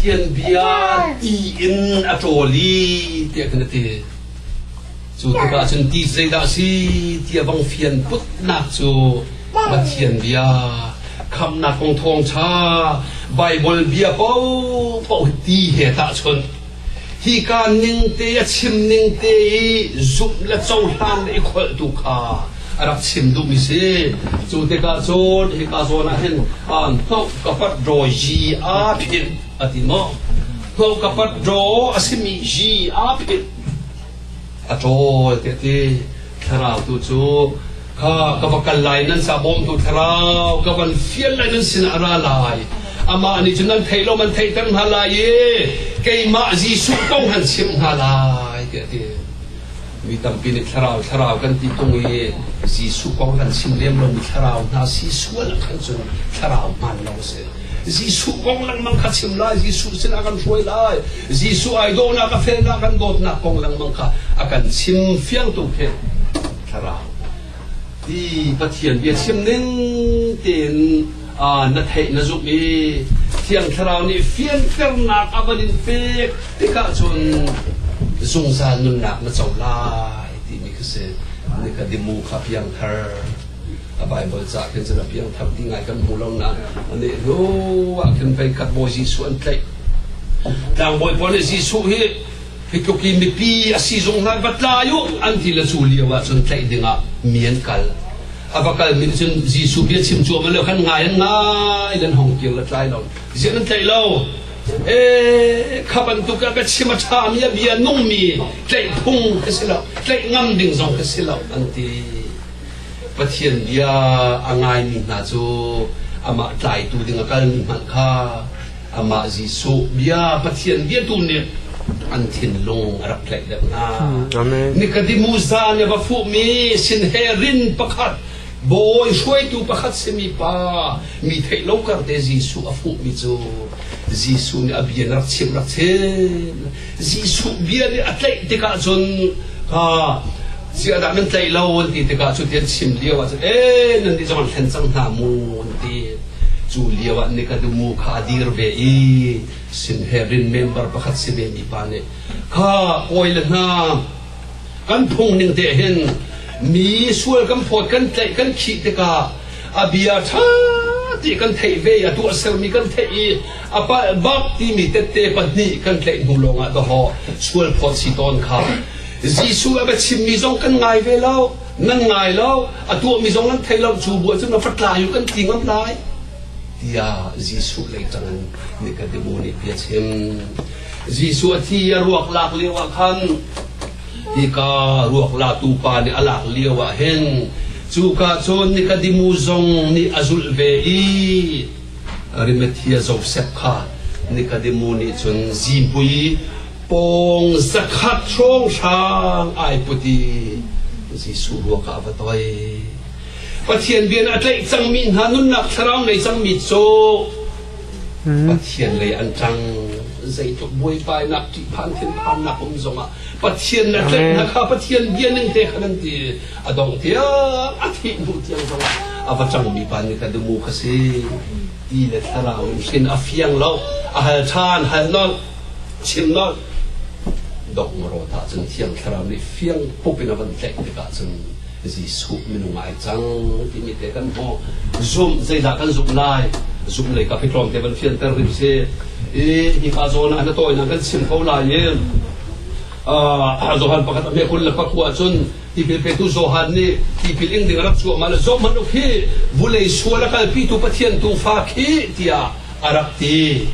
Thianbia ti in a ṭawl i tiah kan ti. Cu tikah cun ti zeidah a si ti a bang fian putnak cu Pathian bia khamnak kong thawngṭha Baibal bia paohpaoh ti he tahchunh hika ning te a chim ning te i zumh le cohlan i kholhtu kha a rak chim duhmi si cu tikah cun hika zawn ah hin hnok kapat draw yi a phit a ti maw hnok kapat draw a simi yi a phit a ṭawl te ti thlarau tu cu kha ka va kal lai nan sa bawm tu thlarau ka van fial lai nan sin a ra lai amah nih cun nan theih lo man theihter hna lai i keimah Jesuh kong han chim hna lai ti a ti Mi tampi nih thlarau thlarau kan ti tung i Jesuh kong kan chim lem lomi thlarau hna si sual khan cun thlarau hmaan lo a si. Jesuh kong lengmang kha chim lai, Jesuh sinah kan hruai lai, Jesuh idolnak a felnak kan dawtnak kong lengmang kha a kan chim fiangtu khi thlarau. Ti Pathian bia chim ning tein na theih na zumh i Thiang Thlarau nih fianternak a van in pek tikah cun zungzal nunnak na co lai timi kha si ni ka dimu kha piangthar a Bible ca khin cun a piangthar ti ngai kan hmu lo na ane hnu ah khin pei khat bawi Jesuh an tlaih tlangbawi pawl nih Jesuh hi hi tluk i mipi a si zung hna va tla u an ti la cu lio ah cun tlaih dingah mi an kal a va kal min cun Jesuh bia chim cuam lo khan ngai an ngai nan hong kir la tlai lo ziak nan tlaih lo e kha bantuk a ka chim a tha mi a bia nung mi tlaih phung ka si lo tlaih ngam ding zong ka si lo an ti pathian bia a ngai mi hna cu amah tlaitu ding a kal mi hmanh kha Amah Jesuh bia Pathian bia tu nih an thinlung a rak tlaih deuh hna. Amen. Nikadimu za nih va fuhmi sinherin pakhat Bawi hruaitu pakhat simi pa mi theih lo karte Jesuh a fuhmi cu Jesuh nih a bia rak chim rak chim Jesuh bia nih a tlaih tikah cun ziahdah nan tlaih lo an ti tikah cu ti an chim lio ah cun e nan nih zong an hlen cang hna mu an ti cu lio ah Nikadumu kha a dir ve i Sinhedrin member pakhat si ve mi pa nih kha kawi le hna kan phung ning te hin mi sual kan phawt kan tlaih kan khih tikah a bia ṭha ti kan theih ve i a tuahsermi kan theih i A palh bak timi tette pahnih kan tlaih hnu lawngah dawhawh sual phawt si tawn kha. Jesuh a bia chimmi zong kan ngai ve lo, nan ngai lo, a tuahmi zong nan thei lo, cu bu ahcun na fatlai u kan ti ngam lai. Tiah Jesuh lei tangin Nikodemu nih bia chim. Jesuh a thi a ruak lak lio ah khan hika ruak latu pa nih a lak lio ah hin cuka cun Nikodemu zong nih a zulh ve i Arimathea Joseph kha Nicodemus nih cun zipui pawng zakhat hrawng hrang ai put i Jesuh ruak ah a va toi. Pathian bian a tlaih cangmi hna nunnak thlarau ngei cangmi cu Pathian lei an ṭang zeitluk buaipainak ṭihphan thinphannak um zongah Pathian na tlaih hna kha Pathian bia ning te kha nan ti a dongh tiang a thih hnu tiang zong ah a va ṭangmi pa nih kha dumu kha si ti le thlarau in hrin a fiang lo a hal ṭhan hal nolh chim nolh dok mawrawt ah cun thiang thlarau nih fiang pup in a van tlaih tikah cun Jesuh minung ai cang timi te kan hmu zum zeidah kan zum lai zum lei ka pitlawm te van fianter hrim si i hi pa zawn ah na tawinak kan chim ko lai in zohan pakhat a mekul le khua khua cun Tipil petu Johan nih tipil ing ding a rak cuahmah le zohhmanh u khi vulei sual a kalpitu Pathian tu fa khi tiah a rak ti.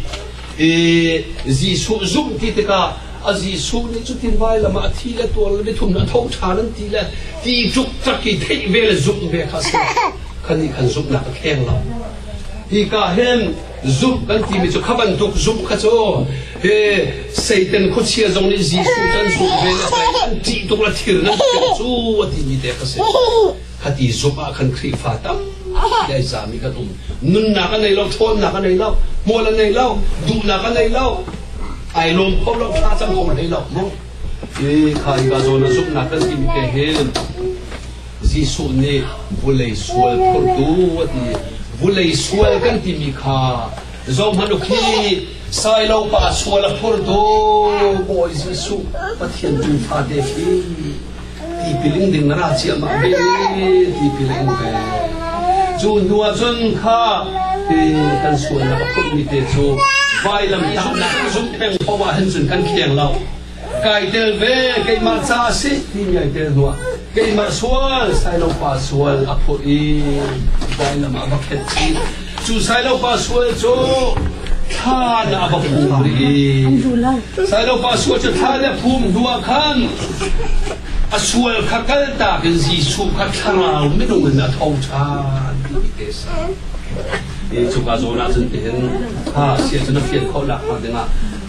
I Jesuh zumh ti tikah a Jesuh nih cutin vailam ah a thi le tual le mithum a tho ṭhan an ti le ti ṭuk tak i theih ve le zumh ve kha a si. Kan nih kan zumhnak a kheng lo. Hika hin zumh kan timi cu kha bantuk zumh kha cu hi Satan khuachia zong nih Jesuh kan zumh ve le Satan ṭih tuk le thir nan tuk cu a timi te ka si kha ti zumh ah khan Khrihfa tam ai zami kan um nunnak a nei lo ṭhawnnak a nei lo hmual a nei lo duhnak a nei lo ai lawm kho lo ṭha cang kho hlei lo mu i kha i ka zawn a zumhnak kan timi te hin Jesuh nih vulei sual phurtu a ti. Vulei sual kan timi kha zohhmanh u khi Sailo pa sual a phurtu Bawi Jesuh Pathian tu fate khi tipiling ding na ra ciamah ve tipiling ve cu hnu ah cun kha kan sualnak a phurmi te cu vailam damnak zumh peng poah hin cun kan khiang lo kai tel ve keimah ca a si timi ai tel hnuah keimah sual Sailopa sual a phurh i dai lam ah va khet chih cu Sailopa sual cu thlan ah va phum rih Sailopa sual cu thlan le phum hnuah khan a sual kha kaltak in Jesuh kha thlarau minung in a tho ṭhan timi te sa e cuka zawn ah cun tihin ha sia cun a fian khawh lak hnga dingah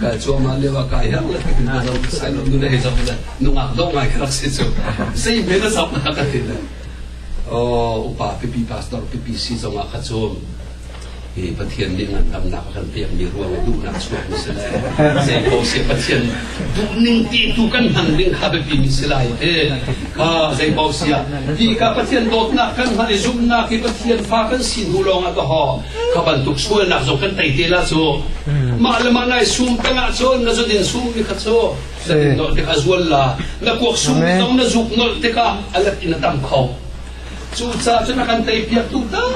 kai cuahmah lio ah kai herh le tuk na zo sai lo nu le zo le nungak dong ngai ka rak si cu sei me na zam na ka ti le o upa pipi pastor pipi si zong ah kha cu i pathian nih ngandamnak a kan pek mi ruang i duhnak chuak mi si le sei ko si pathian duh ning ti tu kan hman ding kha biapi mi si lai te a zei ko si ah ti ka pathian dawtnak kan hman i zumnak hi pathian fa kan sin hu lawng ah ka ho Kha bantuk sualnak zong kan tei te la cu mah le mah nai sum tengah cun na zudin sum mi kha cu zudin nolh tikah a zual la na kuak sum zong na zuk nolh tikah a let in a tam kho cu ca cu na kan tei piak tu tak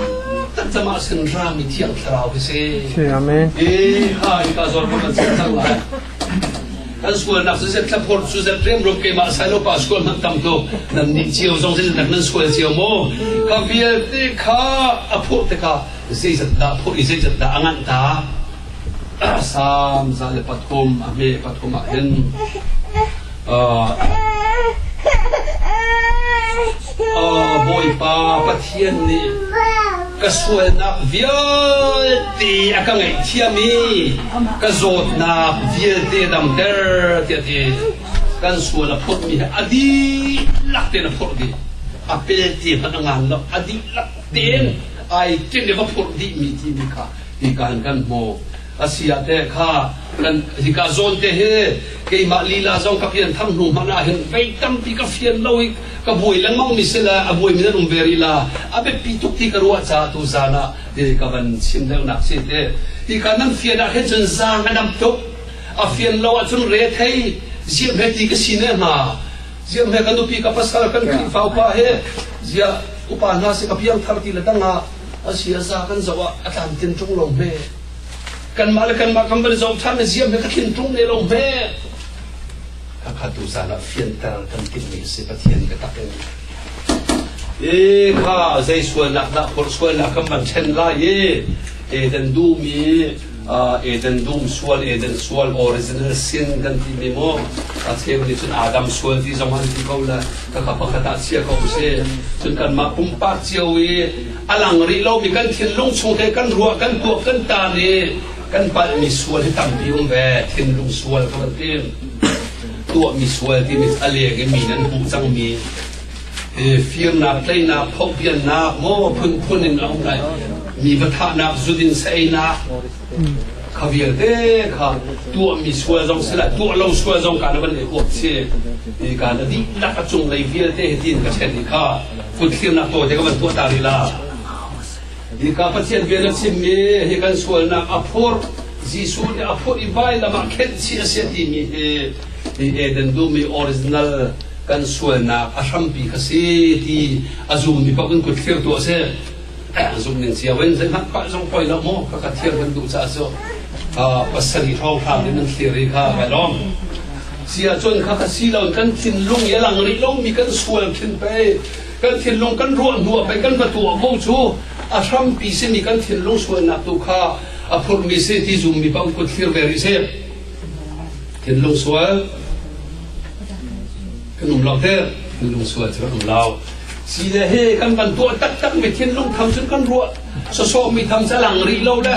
tak cama sin ra mi thiang thlarau hi si amen e hai ka zor ma kan cang lai Kan sualnak cu zet thlaphor cu zet riamruam keimah sailopa sual hmanh tam ko nan nih cio zong zeizat nan sual cio maw ka vialte kha a phawh tikah zeizat dah phawh i zeizat dah a nganh ta sam za le pathum a hme pathum ah hin Bawipa Pathian nih ka sualnak vialte a ka ngaihthiam i ka zawtnak vialte damter tiah ti kan sual a phurh mi a dihlak te na phurh dih a pel ti hmanh a ngan lo a dihlak ten ai ken le va phurh dih mi ti mi kha ti kan kan hmu a si ah teh kha kan hika zawn te hi keimah lila zong ka pian tham hnu hmanh ah hin pei tampi ka fian lo i ka buai lengmang mi si le a buai mi rum ve rila a biapi tuk ti ka ruah caah tu zan ah ti ka van chim deuh nak si te ti ka nan fian ah hin cun zang a dam tuk a fian lo ah cun re thei ziam he ti ka si ne ma ziam he kan upi ka pasal kan khrihfa upa he zia upa hna si ka piang thar ti le dangah a sia za kan zo ah a tlan tin tung lo me Kanmah le kanmah kan van zoh ṭhan ziam hi ka thin ṭung ne lo hme. Khakha tu zan ah fianter kan timhmi si Pathian ka tak in. E kha zei sualnak dah kor sualnak kan van ṭhen lai e. Eden duhmi Eden dum sual Eden sual original sin kan ti mi mo a cheu nih cun Adam sual ti zong an ti ko la ka ka pakhat ah chia ko si cun kan mah pumpak cio i a lang rih lomi kan thinlung chung te kan ruah kan tuah kan tar i kan palhmi sual hi tampi um ve thinlung sual kha kan tim tuahmi sual timi a lek i mi nan hmuh cangmi firnak tleinak phobbiannak maw phunphun in a um lai mi va thahnak zudin seinak kha vialte kha tuahmi sual zong si la tuah lo sual zong ka na van i huap si i ka na dihlak a cung lei vialte hitin ka chen i kha kutthirnak taw te ka van tuah ta rih la i ka pathian bia na chimmi hi kan sualnak a phur Jesuh nih a phur i vai lamah khenh si a sia timi hi i Eden dumi original kan sualnak a hrampi kha si ti a zum mi pak in kutthlir tu a si zung ning cio in zeihmanh zong poi lo mu ka ka thir kan duh caah cu pasarih hrawng hram in nan thlir i kha ka lawm si ahcun kha ka si lo kan thinlung i lang rih lo mi kan sual thin pe kan thinlung kan ruah hnuah pei kan patuah mo cu a hrampi sin i kan thinlung sualnak tu kha a phurmi si ti zummi bang kut thlir ve rih seh thinlung sual kan um lo heh kan lungsual cu an um lo si le he kan van tuah taktak mi thinlung tham cun kan ruah sawsawh mi tham cu a lang rih lo le